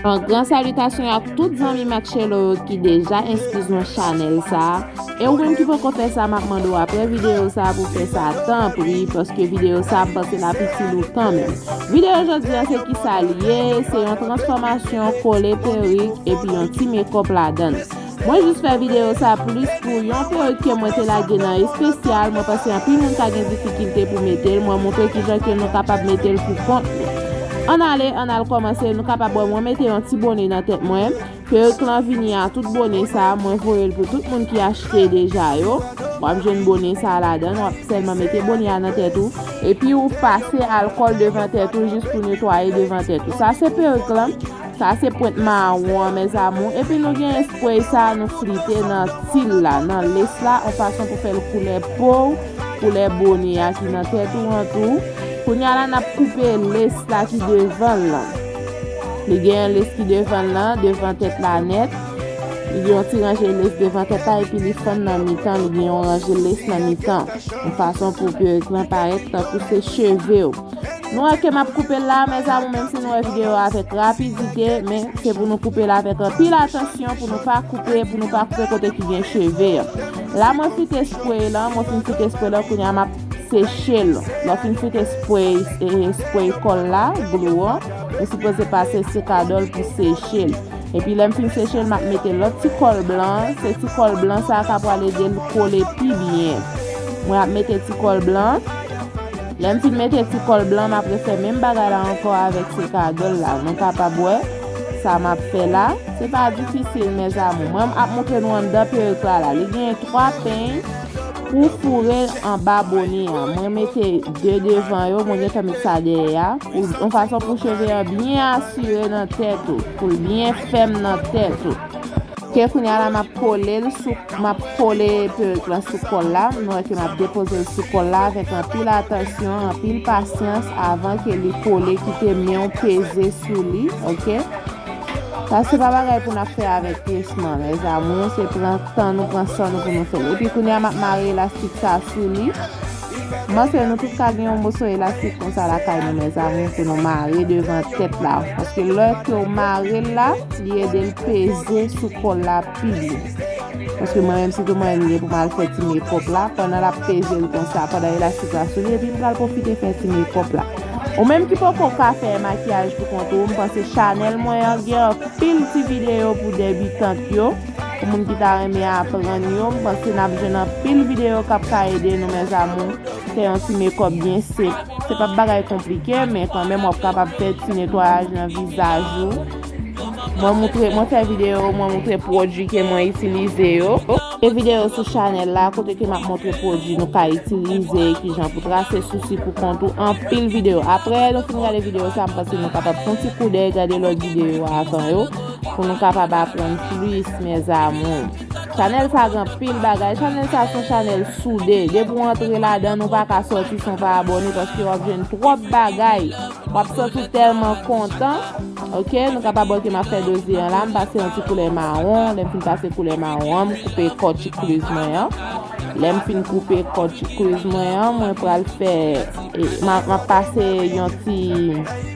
Yon gran salitasyon a tout zanmi Matchelo yo ki deja enskri sou chanèl sa a, e ou menm ki poko fè sa map mande w aprè videyo sa a pou fè sa tanpri paske videyo sa a ap pase la pitil ou kanmenm. Videyo jodi an se kisa li ye, se yon transfòmasyon kole perik epi yon ti mekòp ladann. Mwen jis fè videyo sa plis pou yon perik ke mwen te lage nan espesyal, mwen panse anpil moun ka gen difikilte pou metel, mwen montre kijan ke nou kapab metel pou kont nou. Ann ale, ann al kòmanse, nou kapab wè mwen mete yon ti bone nan tèt mwen, perik lan vini a tout bone sa, mwen voyel pou tout moun ki achte deja yo, wap jwenn bone sa ladann, wap sèlman mete bone a nan tèt ou, epi ou pase alkòl devan tèt ou jis pou netwaye devan tèt ou, sa se perik lan. Sa se pwent mawon an mes amour epi nou gen espray sa nou flite nan til la nan lace la on fason pou fèl koulè pow koulè bone a ki nan tèt ou an tou kounya la nap koupe lace la ki devanl lan li gen yon lace ki devanl lan devan tèt la nèt li gen yon ti ranje lace devan tèt la epi li fann nan mitan li gen yon ranje lace nan mitan on fason pou peruk lan parèt tankou se chevew. Nou wè ke map koupe l la mes amour menm si nou wè video a avek rapidite men se pou nou koupe l avek anpil atansyon pou nou pa koupe pou nou pa koupe kote ki gen cheve an. La mwen frite spray lan, mwen fin frite spray lan kounye a map seche l. Lè w fin frite spray e spray kòl la, glou an, ou sipoze pase sekadòl pou seche l. Epi lè m fin seche l map mete lòt ti kòl blan an, se ti kòl blan sa a ka pral ede l kole pi byen. Mwen ap mete ti kòl blan. Lè m fin mete ti kòl blan m ap refè menm bagay la ankò avèk sekagèl la nou kapab wè sa m ap fè la se pa difisil mes amour mwen ap moutre nou anndan peruk la la li genyen 3 peny pou foure l anba bone a mwen mete 2 devan yo mwen gentan met sa dèyè a pou yon fason pou cheve an byen asire nan tèt ou pou l byen fèm nan tèt ou. Ke kounya la map kolel sou map kole peruk lan sou kòl la m wè ke map depozel sou kòl la avèk anpil atansyon anpil pasyans avan ke li kole kite menw peze sou li ok sa se pa bagay pou nap fè avèk presman mes amours se pran tan nou pran san nou pou nou fèl epi kounya map mare elastik sa sou li. M panse nou tout ka gen yon moso elastik konsa lakay nou mezanmi pou nou mare devan tèt la paske lè ke w mare l la li ede l peze sou kò l la pi byen paske mwen menm sitou mwen m gen pou m al fè ti mekòp la pandan l ap peze l konsa pandan elastik la sou li epi m pral pwofite fè ti mekòp la ou menm ki poko ka fè makiyaj pou kont ou m panse chanèl mwen an gen anpil ti videyo pou debitant yo. Pou moun ki ta renmen aprann yo, m panse nap jwenn anpil videyo kap ka ede nou mes amours, fè yon ti mekòp byen senp, se pap bagay konplike men kanmenm wap kapab fè ti netwayaj nan vizaj ou, mwen moutre, mwen fè videyo mwen moutre pwodui ke mwen itilize yo. Gen videyo sou chanèl la kote ke map moutre pwodui nou ka itilize, kijan pou trase sousi pou kont ou, anpil videyo. Aprè nou fin gade videyo sa m panse nou kapab fon ti koudèy gade lòt videyo avan yo. Pou nou kapab aprann plis mes amours. Chanel sa gen anpil bagay. Chanel sa son chanel soude. Depi ou antre ladann ou pa ka soti san pa abone paske wap jwenn twop bagay. Wap santi w telman kontan. Ok nou kapab ok map fe doze an la. M pase yon ti koulè maron. Lem fin pase koulè maron an m koupe kò chikriz mwen an. Lem fin koupe kò chikriz mwen an mwen pral fe map pase yon ti.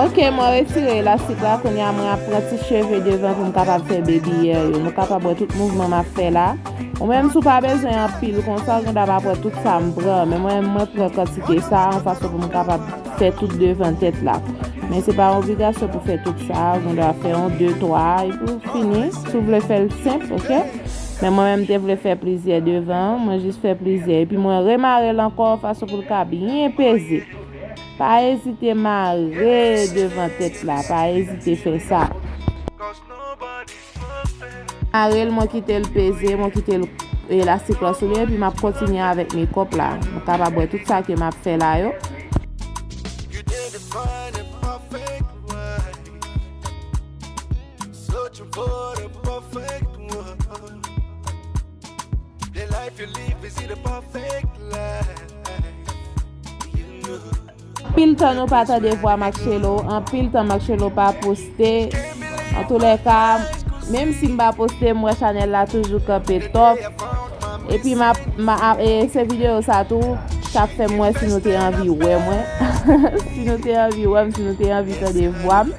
Ok mwen retire elastik la kounye a mwen ap pran ti cheve devan pou m kapab fè baby hair yo. Nou kapab wè tout mouvman m ap fè la. Ou menm si w pa bezwen anpil konsa ou gen dwa pa pran tout sa m pran. Men mwen menm mwen pran kantite sa a yon fason pou m kapab fè tout devan tèt la. Men se pa yon obligasyon pou fè tout sa a. Ou gen dwa fè yon, de, twa a epi ou fini. Si w vle fè l senp ok. Men mwen menm m te vle fè plizyè devan an, mwen jis fè plizyè epi mwen remare l ankò fason pou l ka byen peze. Pa ezite mare devan tèt la, pa ezite fè sa. Mare l mwen kite l peze, mwen kite l elastik lan sou li epi m ap kontinye avèk mekòp la. Nou kapab wè tout sa ke m ap fè la yo. Anpil tan nou pa tande vwa Maxelo, anpil tan Maxelo pa poste, an tou lè ka, menm si m pa poste m wè chanèl la toujou kanpe top, epi m ap, e se videyo sa tou, k ap fè m wè si nou te anvi wè mwen, si nou te anvi wè m, si nou te anvi tande vwa m.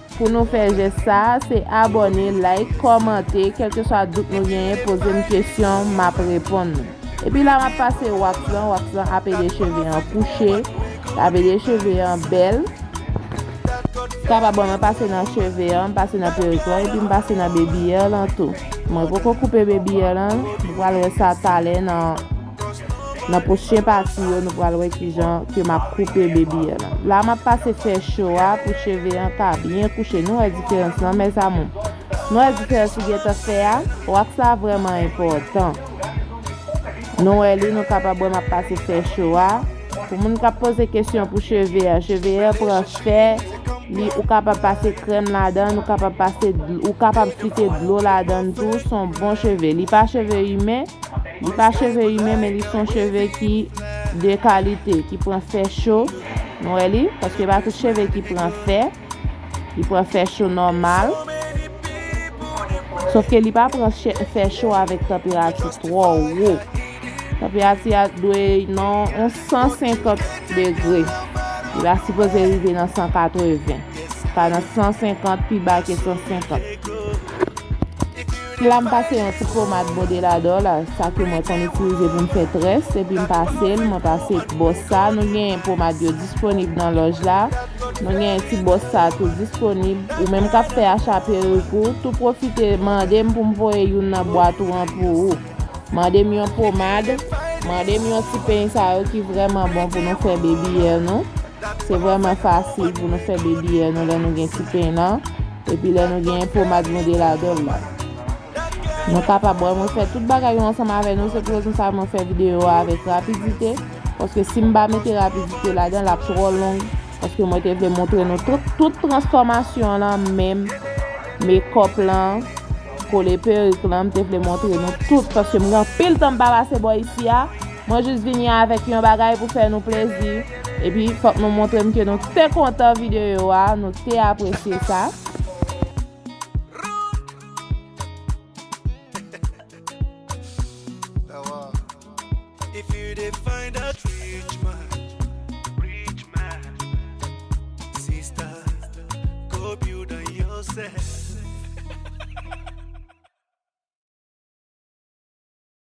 Pou nou fè jès sa a, se abòne, like, kòmante, kèlkeswa dout nou genyen poze m kesyon m ap reponn nou. Epi la m ap pase wax lan, wax lan ap ede cheve an kouche, l ap ede cheve an bèl. Sa pa bon mwen pase nan cheve an, m pase nan perik lan epi m pase nan baby hair lan tou. Mwen poko koupe baby hair lan, nou pral wè sa talè nan. Nan pwochen pati yo nou pral wè kijan ke map koupe baby an. La map pase fè cho a pou cheve an ka byen kouche. Nou wè diferans lan mes amour? Nou wè diferans li gentan fè a? Wax la vrèman enpòtan. Nou wè li nou kapab wè map pase fè cho a. Pou moun kap poze kesyon pou cheve a, cheve a pran fè, li ou kapab pase krèm ladan, ou kapab pase ou kapab flite dlo ladan tou, son bon cheve. Li pa cheve imen, li pa cheve imen men li son cheve ki de kalite, ki pran fè cho, nou wè li, paske pa tout cheve ki pran fè. Li pran fè cho nòmal. Sof ke li pa pran fè cho avèk tanperati twò wo. Tanperati a dwe nan 150 degre. Li pa sipoze rive nan 180. Pa nan 150 pi ba ke 150. Sila m pase yon ti pomad Bodelador la, sa ke mwen konn itilize pou m fè très, epi m pase l, mwen pase bòs sa, nou genyen pomad yo disponib nan lòj la, nou genyen ti bòs sa tou disponib, ou menm kap fè acha perik ou, tou pwofite mande m pou m voye youn nan bwat ou an pou ou. Mande m yon pomad, mande m yon ti peny sa yo ki vrèman bon pou nou fè baby hair nou, se vrèman fasil pou nou fè baby hair nou lè nou gen ti peny lan. Epi lè nou genyen pomad nou de ladanl la. Nou kapab wè mwen fè tout bagay yo ansanm avè nou se pou rezon sa mwen fè video a avèk rapidite paske sim pa mete rapidite ladan lap trò long paske mwen te vle montre nou tout transfòmasyon lan menm mekòp lan kole perik lan mte vle montre nou tout paske mgen anpil tan mpa pase bò isi a. Mwen jis vini avèk yon bagay pou fè nou plezi, epi fòk nou montre m ke nou te kontan videyo a, nou te apresye sa.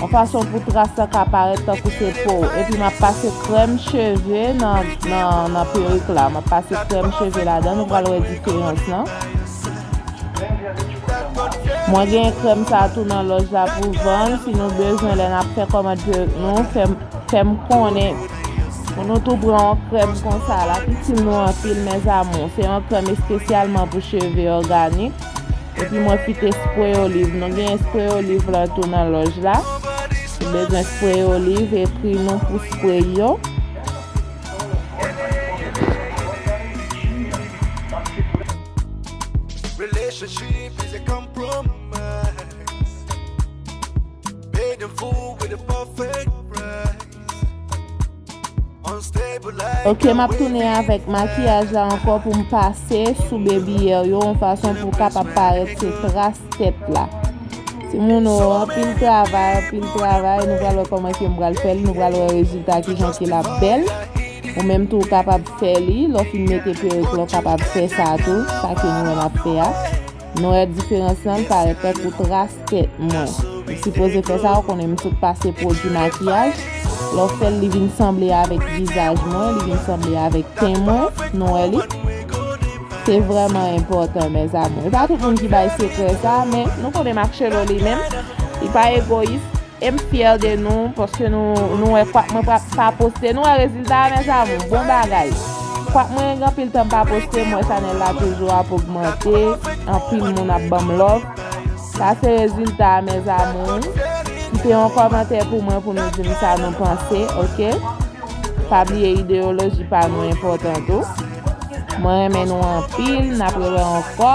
yon fason pou tras la ka parèt tankou se po w, epi map pase krèm cheve nan perik la, map pase krèm cheve ladan, nou pral wè diferans lan, mwen gen krèm sa tou nan lòj la pou vann, si nou bezwen lè nap fè kòmand perik nou, fè m konnen. Pou nou tou pran yon krèm konsa, lap itil nou anpil mes amour, se yon krèm espesyalman pou cheve òganik. Epi mwen kite spray olive. Nou genyen spray olive lan tou nan loj la. Si bezwen spray olive ekri nou pou spray yo. Ok map tounen avèk makiyaj la ankò pou m pase sou bebiyè yo yon fason pou kapab parèt se tras tèt la ti moun o anpil travay anpil travay nou pral wè kòman ke m pral fèl nou pral wè rezilta kijan ke lap bèl ou menm tou kapab fè li lò fin mete peruk la ou kapab fè sa tou sa ke nou menm ap fè a. Nou wè diferans lan l parèt tankou tras tèt mwen. Ou sipoze fè sa ou konnen m sot pase pwodui makiyaj. Lè w fè l li vin sanble avèk vizaj mwen, li vin sanble avèk ten mwen. Nou wè li? Se vrèman enpòtan mèzamou. E pa tout moun ki bay sekrè sa, men nou konnen Marcello li menm, li pa egoyis. Em fyè de nou paske nou nou wè kwak mwen pa poste nou wè rezilta a mes amour bon bagay kwak mwen gen anpil tan pa poste m wè chanel la toujou ap ogmante anpil moun ap banm love sa se rezilta a mes amour kite yon kòmantè pou mwen pou nou dim sa nou panse ok pa bliye ideyoloji pa nou enpòtan tou mwen renmen nou anpil nap rewè ankò.